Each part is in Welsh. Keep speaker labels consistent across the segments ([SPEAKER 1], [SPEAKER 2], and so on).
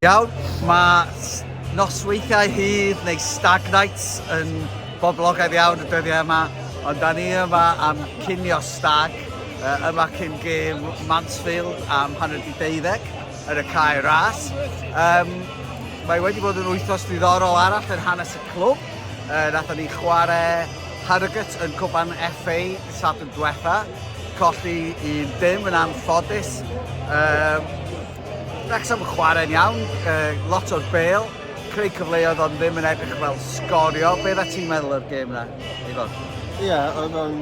[SPEAKER 1] Iawn, mae nosweithiau hyd neu stag nights yn boblogaidd iawn y dyddiau yma, ond da ni yma am cinio stag, uh, yma cyn gêm Mansfield am hanner di deuddeg. yn y cae ras. Um, mae wedi bod yn wythnos ddiddorol arall yn hanes y clwb. Uh, Nathon ni chwarae Harrogate yn cwpan FA Sadwrn diwetha. Colli un dim yn anffodus. Um, Wrexham yn chwarae'n iawn, uh, lot o'r bel, creu cyfleoedd ond ddim yn edrych fel sgorio. Be dda ti'n meddwl o'r gêm na? Ivan. Ie, yeah, oedd o'n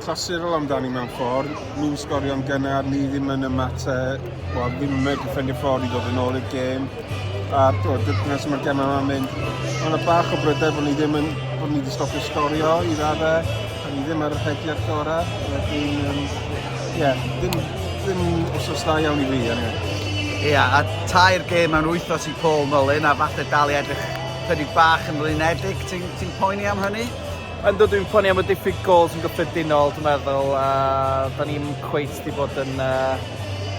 [SPEAKER 1] clasurol amdani mewn ffordd. Nhw'n sgorio'n gynnar, ni ddim yn ymateb, wel, ddim yn medru ffendio ffordd i ddod yn ôl i'r gêm. A to, dyna sy'n mae'r gemau yma'n mynd. Mae yna bach o brydau bod ni ddim yn, bod ni wedi stopio sgorio i raddau. A ni ddim ar y rhegiad gorau. Wedyn, um, ie, ddim, ddim wrth dda iawn i fi, anyway. Ie, yeah, a tair gêm mewn wythnos i Paul Mullin, a falle dal i edrych chydig bach yn flinedig, ti'n Ti'n poeni am hynny? Yndw, dwi'n poeni am y diffyg gols yn gyffredinol, dwi'n meddwl, a da ni'n cweit di bod yn uh,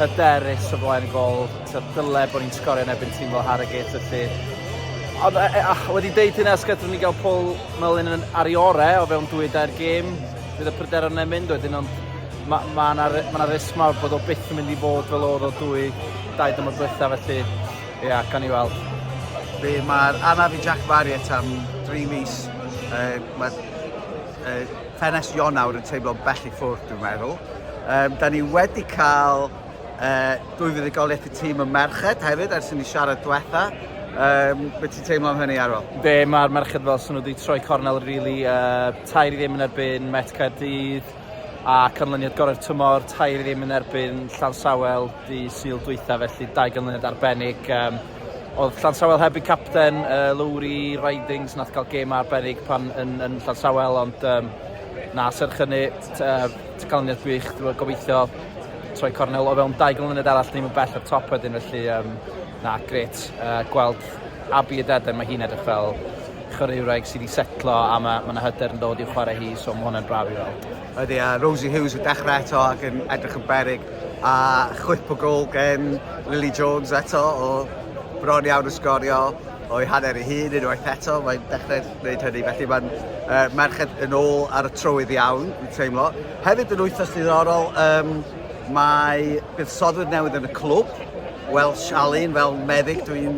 [SPEAKER 1] hyderus o flaen y gol. Dyle bod ni'n sgorio yn ebyn tîm fel Harrogate, felly Ond e, e, ah, wedi deud hynna, os gadw'n ni gael Paul Mullin yn ar ei ore o fewn dwy dair gêm, bydd y pryder o'n mynd wedyn, ond mae ma yna ma risg mawr bod o byth yn mynd i fod fel oedd o dwy dair dymor diwetha, felly Ie, yeah, gan i weld. Be, mae'r anaf i Jack Marriott am 3 mis. Uh, mae uh, ffenest Ionawr yn teimlo bell i ffwrdd, dwi'n meddwl. Um, da ni wedi cael uh, dwy fuddugoliaeth y tîm yn merched hefyd, ers i ni siarad diwetha. Um, be ti'n teimlo am hynny, Arwel? Be, mae'r merched fel sy'n nhw wedi troi cornel, really. Uh, tair i ddim yn erbyn Met Caerdydd. A canlyniad gorau'r tymor, tair i ddim yn erbyn Llansawel di syl dwytha, felly dau ganlyniad arbennig. Um, oedd Llansawel heb eu capten, uh, Lowry Ridings, nath cael gêm arbennig pan yn, yn Llansawel, ond um, na, serch hynny, canlyniad gwych, dwi'n gobeithio troi cornel o fewn dau ganlyniad arall, ddim yn bell o'r top wedyn, felly um, Na, gret. Uh, gweld Abi a Deden, mae hi'n edrych fel chwaraewraig sydd wedi setlo a mae yna ma hyder yn dod i'w chwarae hi, so mae hwnna'n braf i weld. Ydy, a Rosie Hughes yn dechrau eto ac yn edrych yn berig, a chwip o gol gen Lily Jones eto o bron iawn yn sgorio o'i hanner ei hun unwaith eto, mae'n dechrau gwneud hynny, felly mae'n uh, merched yn ôl ar y trywydd iawn, yn teimlo. Hefyd yn wythnos ddiddorol, um, Mae buddsoddwr newydd yn y clwb, Welsh Alun, fel meddyg dwi'n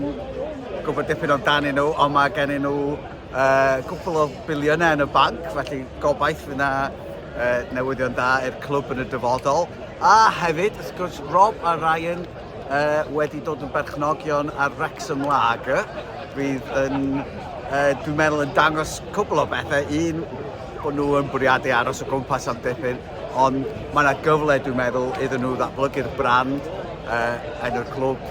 [SPEAKER 1] gwybod dipyn amdanyn nhw, ond mae gennym nhw uh, gwpl o biliynau yn y banc, felly gobaith fydd yna uh, newyddion da i'r clwb yn y dyfodol. A hefyd, wrth gwrs, Rob a Ryan uh, wedi dod yn berchnogion ar Wrexham Lager, fydd yn, uh, dwi'n meddwl, yn dangos cwbl o bethau. Un, bod nhw yn bwriadu aros o gwmpas am dipyn, Ond mae yna gyfle, dwi'n meddwl, iddyn nhw ddatblygu'r brand uh, yn y clwb,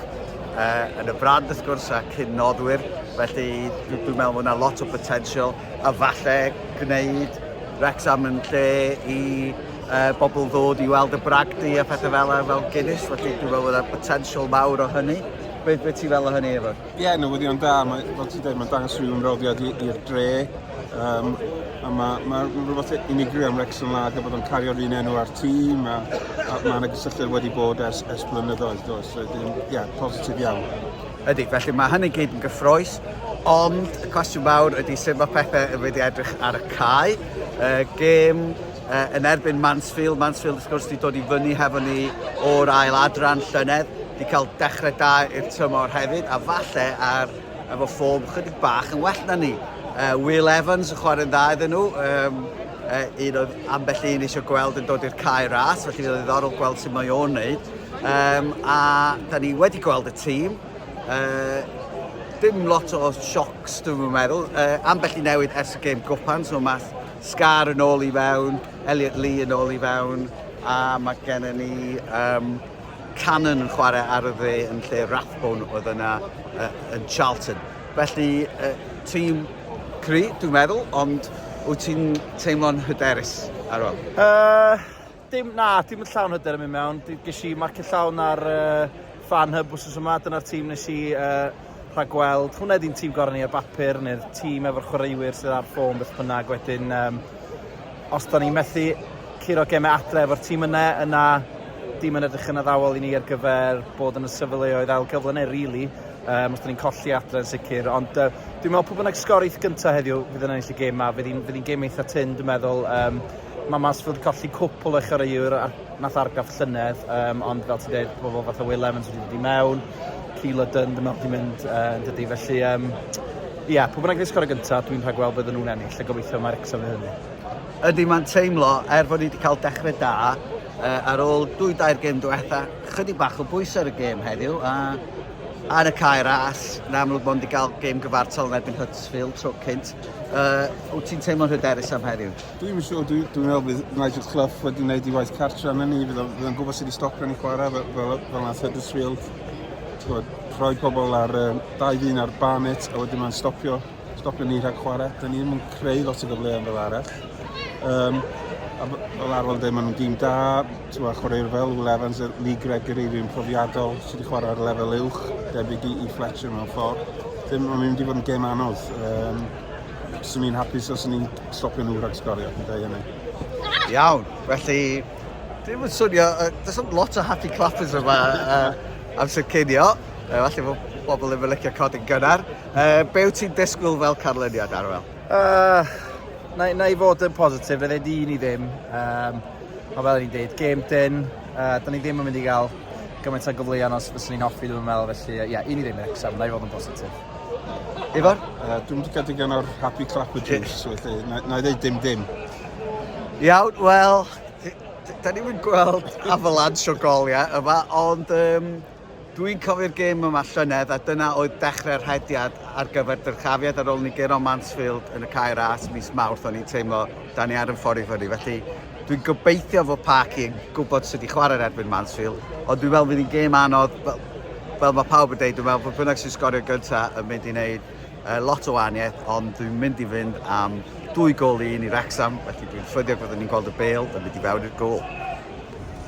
[SPEAKER 1] uh, yn y brand wrth gwrs a cyn noddwyr. Felly dwi'n dwi meddwl bod yna lot o potensial a falle gwneud Wrexham yn lle i uh, bobl ddod i weld y bragdy a phethau fel fel Guinness. Felly dwi'n meddwl bod yna potensial mawr o hynny. Beth be ti'n fel o hynny, Efo'r? Ie, newyddion da. Mae, fel ti'n dweud, mae'n dangos rhyw ymroddiad i'r dre. Um, a mae ma rhywbeth unigryw am Rexon Lager bod o'n cario'r un enw ar tîm a, a mae yna gysylltiad wedi bod ers, ers blynyddoedd, does? So, ie, yeah, positif iawn. Ydy, felly mae hynny gyd yn gyffroes, ond y cwestiwn mawr ydy sut mae pethau yn wedi edrych ar y cae. Uh, gêm uh, yn erbyn Mansfield. Mansfield, wrth gwrs, wedi dod i fyny hefo ni o'r ail adran llynedd. Wedi cael dechrau da i'r tymor hefyd, a falle ar efo ffom chydig bach yn well na ni. Uh, Will Evans yn chwarae'n dda iddyn nhw. Um, uh, un oedd ambell un eisiau gweld yn dod i'r cae ras, felly oedd ddiddorol gweld sut mae o'n neud. Um, a da ni wedi gweld y tîm. Uh, dim lot o siocs, dwi'n meddwl. Uh, ambell i newid ers y gêm gwpan, so math Scar yn ôl i fewn, Elliot Lee yn ôl i fewn, a mae gennym ni um, Cannon yn chwarae ar y dde yn lle Rathbone oedd yna uh, yn Charlton. Felly, uh, tîm cry, dwi'n meddwl, ond wyt ti'n teimlo'n hyderus ar ôl? Uh, Dim, na, dim yn llawn hyder yn mynd mewn. Ges i marcio llawn ar uh, fan hyb wrth yma, dyna'r tîm nes i uh, rhagweld. Hwna ydy'n tîm gorau ni ar bapur, neu'r tîm efo'r chwaraewyr sydd ar ffôn beth bynnag. Wedyn, um, os da ni'n methu curo gemau adre efo'r tîm yna, yna dim yn edrych yn addawol i ni ar gyfer bod yn y sefyleoedd ail gyfle neu rili, really, um, os da ni'n colli adre yn sicr. Ond uh, dwi'n meddwl pwy bynnag sgorith gyntaf heddiw fydd yn ennill y gêm yma, fydd hi'n gêm eitha tyn, dwi'n meddwl. Um, Mae mas fod colli cwpl o chwaraewr ar, nath argraff llynedd, um, ond fel ti'n dweud, pobl fath o Will Evans wedi dod i mewn, Keeler Dunn, dyma wedi mynd uh, yn dydy, felly... Um, Ie, yeah, pwy bynnag ddisgwyl ar y gyntaf, dwi'n rhaid gweld bydden nhw'n ennill, a gobeithio mae'r Wrexham yn hynny. Ydy, mae'n teimlo, er fod ni wedi cael dechrau da, uh, ar ôl dwy dair gêm diwetha, chydig bach o bwys ar y gêm heddiw, a ar y cae ras, yn amlwg bod wedi cael gêm gyfartal yn erbyn Huddersfield tro cynt. Uh, wyt ti'n teimlo'n hyderus am heddiw? Dwi'm yn siŵr, dwi'n dwi meddwl bydd Nigel Clough wedi gwneud ei waith cartra yna ni, bydd o'n gwybod sydd wedi stopio ni chwarae fel, fel, fel nath Huddersfield, gwybod, rhoi pobl ar uh, dau ddyn ar Barnet a wedyn mae'n stopio, stopio ni rhag chwarae, dyn ni ddim yn creu lot o gyfleoedd fel arall. Um, a fel arwel dweud, maen nhw'n dîm da, ti'n meddwl, chwaraewyr fel Will Evans, Lee Gregory, fi'n profiadol, sydd wedi chwarae ar lefel uwch, debyg i, i Fletcher mewn ffordd. Ddim yn mynd i fod yn gêm anodd. Um, Swn i'n hapus os ni'n stopio nhw rhag sgorio, fi'n dweud hynny. Iawn, felly, dim yn swnio, uh, does am lot o happy clappers yma uh, amser cynio. Uh, falle bod pobl ddim yn licio cod yn gynnar. Uh, be wyt ti'n disgwyl fel canlyniad, Arwel? Uh, na, na i fod yn positif, fe di ni ddim. Um, a fel ni'n dweud, game dyn, uh, da ni ddim yn mynd i gael gymaint o gyfleon os fyswn ni'n hoffi ddim yn meddwl, felly ie, yeah, un i ddim Wrexham, na i fod yn positif. Ifor? Uh, dwi'n mynd i gael digon o'r happy clapper juice, felly na, na i ddeud dim dim. Iawn, wel, da ni'n mynd gweld avalanche o goliau yma, ond um, dwi'n cofio'r gêm yma llynedd a dyna oedd dechrau'r rhediad ar gyfer dyrchafiad ar ôl ni gero Mansfield yn y Caer As mis Mawrth o'n i'n teimlo da ni ar y ffordd i fyny felly Dwi'n gobeithio fod Parky yn gwybod sut i chwarae yn erbyn Mansfield, ond dwi'n meddwl fydd hi'n gêm anodd, fel, fel mae pawb yn dweud, dwi'n meddwl bod bynnag sy'n sgorio gyntaf yn mynd i wneud uh, lot o wahaniaeth, ond dwi'n mynd i fynd am dwy gol i un i Wrexham, felly dwi'n ffyddiog fod ni'n gweld y bel yn mynd i fewn i'r gol.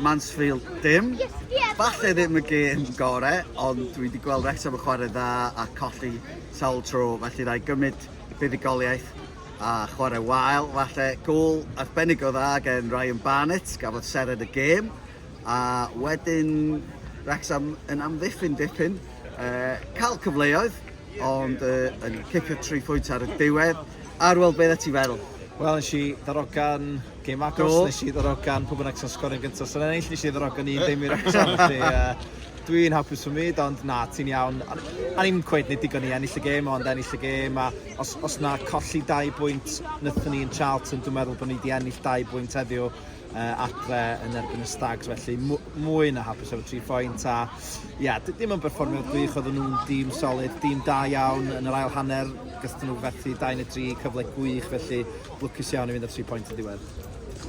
[SPEAKER 1] Mansfield dim. Falle ddim y gêm gorau, ond dwi wedi gweld Wrexham yn chwarae dda a colli sawl tro, felly rai gymryd buddugoliaeth a chwarae wael. Falle gol arbennig o dda gen Ryan Barnett, gafodd seren y gêm. A wedyn Wrexham yn amddiffyn dipyn, uh, cael cyfleoedd, ond uh, yn cicio tri phwynt ar y diwedd. Arwel, beth ti feddwl? Wel, nes i ddarogan Gêm agos, Do. nes i ddarogan pwy bynnag sy'n sgor yn gyntaf sy'n ennill, nes i ddarogan un ddim i'r eto, felly yy, dwi'n hapus fy myd, ond na, ti'n iawn. A a ni'n cweud nid digon i ennill y gêm, ond ennill y gêm, a os, os na colli dau bwynt wnaethon ni yn Charlton, dwi'n meddwl bod ni wedi ennill dau bwynt heddiw uh, adre yn erbyn y Stags, felly mw- mwy na hapus efo tri phoint, a ia, d- ddim yn berfformio gwych, oedden nhw'n dîm solid, dîm da iawn yn yr ail hanner, gyda nhw fethu 2 neu 3 cyfle gwych, felly Lwcus iawn i fynd â tri phoint yn diwedd.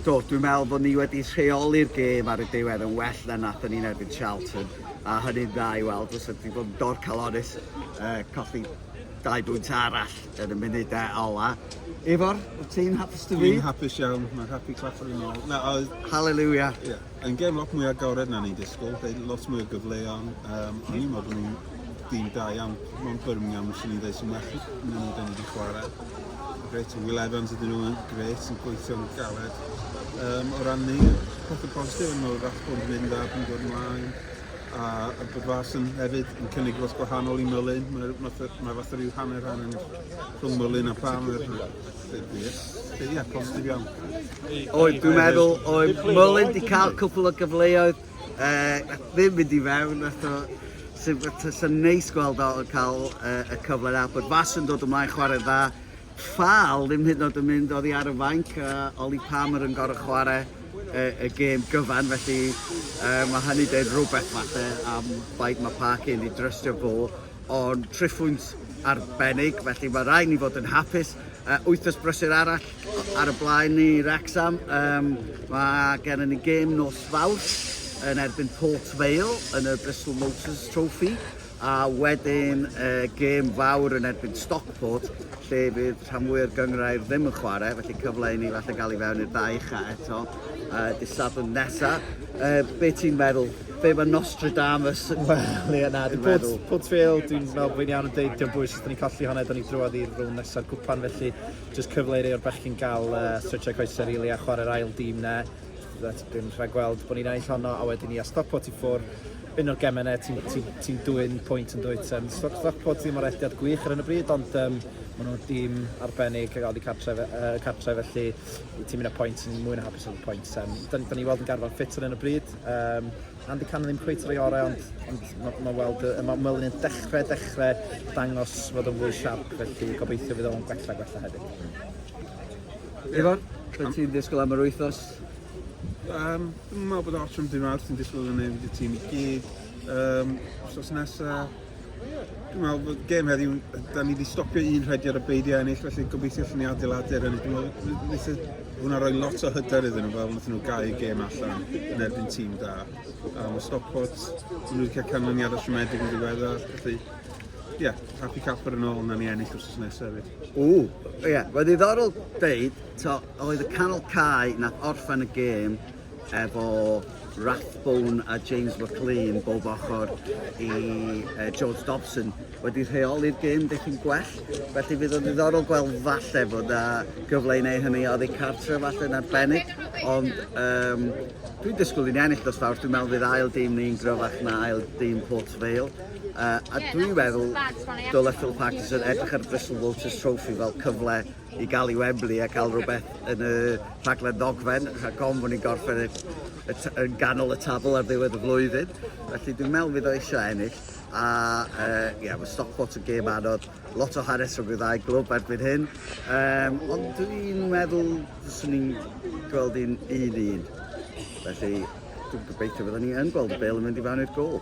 [SPEAKER 1] Do, dwi'n meddwl bod ni wedi rheoli'r gêm ar y diwedd yn well na nath ni'n erbyn Charlton, a hynny'n dda i weld, os ydy bod yn dorcalonus, uh, colli dau bwynt arall yn y munud e ola. Ifor, wyt ti'n hapus dy fi? Dwi'n hapus iawn, mae'n happy clapper yn ôl. Na, oedd... Hallelujah. Yeah. Yn gêm lot mwy agored na ni'n disgwyl, fe lot mwy o gyfleon, um, o'n i'n meddwl bod nhw'n dîm da iawn, mae'n Birmingham sy'n ni'n dweud sy'n well na ni da ni wedi chwarae. Gret, Will Evans ydyn nhw'n gret, yn gweithio'n galed. Um, o ran ni, peth y positif yn meddwl fath bod yn mynd dda, bod yn dod ymlaen, a y bod fas yn hefyd yn cynnig lot gwahanol i Mylun, mae, mae, mae fath o ryw hanner hanner rhwng Mylun a Palmer. Ie, yeah, positif iawn. Oed, dwi'n meddwl, oed Mullin di cael cwpl o gyfleoedd, uh, ddim mynd i fewn, eto, sy'n neis gweld o yn cael uh, y cyfle na, bod fas yn dod ymlaen chwarae dda, ffal ddim hyd yn oed yn mynd oddi ar y fainc, uh, Oli Palmer yn gorau chwarae y, y gêm gyfan, felly uh, mae hynny dweud rhywbeth falle am faint mae Park yn ei drystio fo, o'n triphwynt arbennig, felly mae rhaid ni fod yn hapus. Uh, wythnos brysur arall ar y blaen ni, Wrexham. Um, mae gennym ni gêm nos fawr yn erbyn Port Vale yn y Bristol Motors Trophy a wedyn uh, gêm fawr yn erbyn Stockport lle bydd rhan fwy o'r gyngrair ddim yn chwarae, felly cyfle i ni falle gael i fewn i'r ddau ucha eto uh, dydd Sadwrn nesaf. Uh, be ti'n meddwl Be mae Nostradamus yn meddwl? Ie, na, dwi'n meddwl. Port Vale, dwi'n meddwl bod fi'n iawn yn deud, diolch bwys, os da ni'n colli hwnna, da ni'n drwad i'r rhwng nesaf gwpan, felly jyst cyfle i rei o'r bechgyn gael uh, stretchau coesau rili really, a chwarae'r ail dîm na. That's been rhaid gweld bod ni'n ennill honno, a wedyn ni a Stockport i ffwr. Un o'r gemau yna, ti'n ti, ti dwy'n pwynt yn dwyt. Um, Stockport ddim o'r elldiad gwych ar hyn o bryd, ond um, maen nhw'n dîm arbennig a gael di cartref, uh, cartref felly ti'n mynd â pwynt, ti'n mwy na hapus o'r pwynt. Um, da, da ni weld yn garfan ffit ar hyn o bryd, Um, Andy Cannon ddim cweit rei orau, ond, ond mae ma weld, mae Merlin yn dechrau, dechrau dangos fod o'n fwy siarp, felly gobeithio fydd o'n gwella, gwella hefyd. Ifor, beth ti'n disgwyl am yr wythnos? Um, dwi'n meddwl bod Archon Dyn Arth yn disgwyl yn ei tîm i gyd. Um, os nesaf, Dwi'n meddwl bod gêm heddiw, da ni wedi stopio un rhaid ar y beidiau ennill, felly gobeithio allan ni adeiladu'r ennill. Dwi'n meddwl, wnaeth hwnna roi lot o hyder iddyn nhw, fel wnaeth nhw gau gêm allan yn erbyn tîm da. A mae Stockport, nhw wedi cael canlyniad o siomedig yn ddiweddar, felly ie, yeah, happy capper yn ôl, na ni ennill wrth nesaf hefyd. O, ie, yeah. mae ddiddorol deud, to, oedd y canol cae na orffen y gêm efo Rathbone a James McLean bob ochr i uh, George Dobson wedi rheoli'r gêm dipyn gwell felly fydd o'n ddiddorol gweld falle fod na gyfle i neu hynny oddi cartre falle yn arbennig ond um, dwi'n disgwyl i'n ennill dros fawr dwi'n meddwl fydd ail dîm ni'n gryfach na ail dîm Port Vale uh, a dwi'n meddwl dylai Phil Parkinson edrych ar Bristol Vultures Trophy fel cyfle i gael i Wembley a cael rhywbeth yn y rhaglen ddogfen, rhag gofn bod ni'n gorffen y, y, y, ganol y tabl ar ddiwedd y flwyddyn. Felly dwi'n meddwl fydd o eisiau ennill. A uh, yeah, mae Stockport yn gêm anodd, lot o hanes rhwng y ddau glwb erbyn hyn. Um, ond dwi'n meddwl, swn i'n gweld un un un. Felly, dwi'n gobeithio byddwn ni yn gweld y bel yn mynd i fewn i'r gol.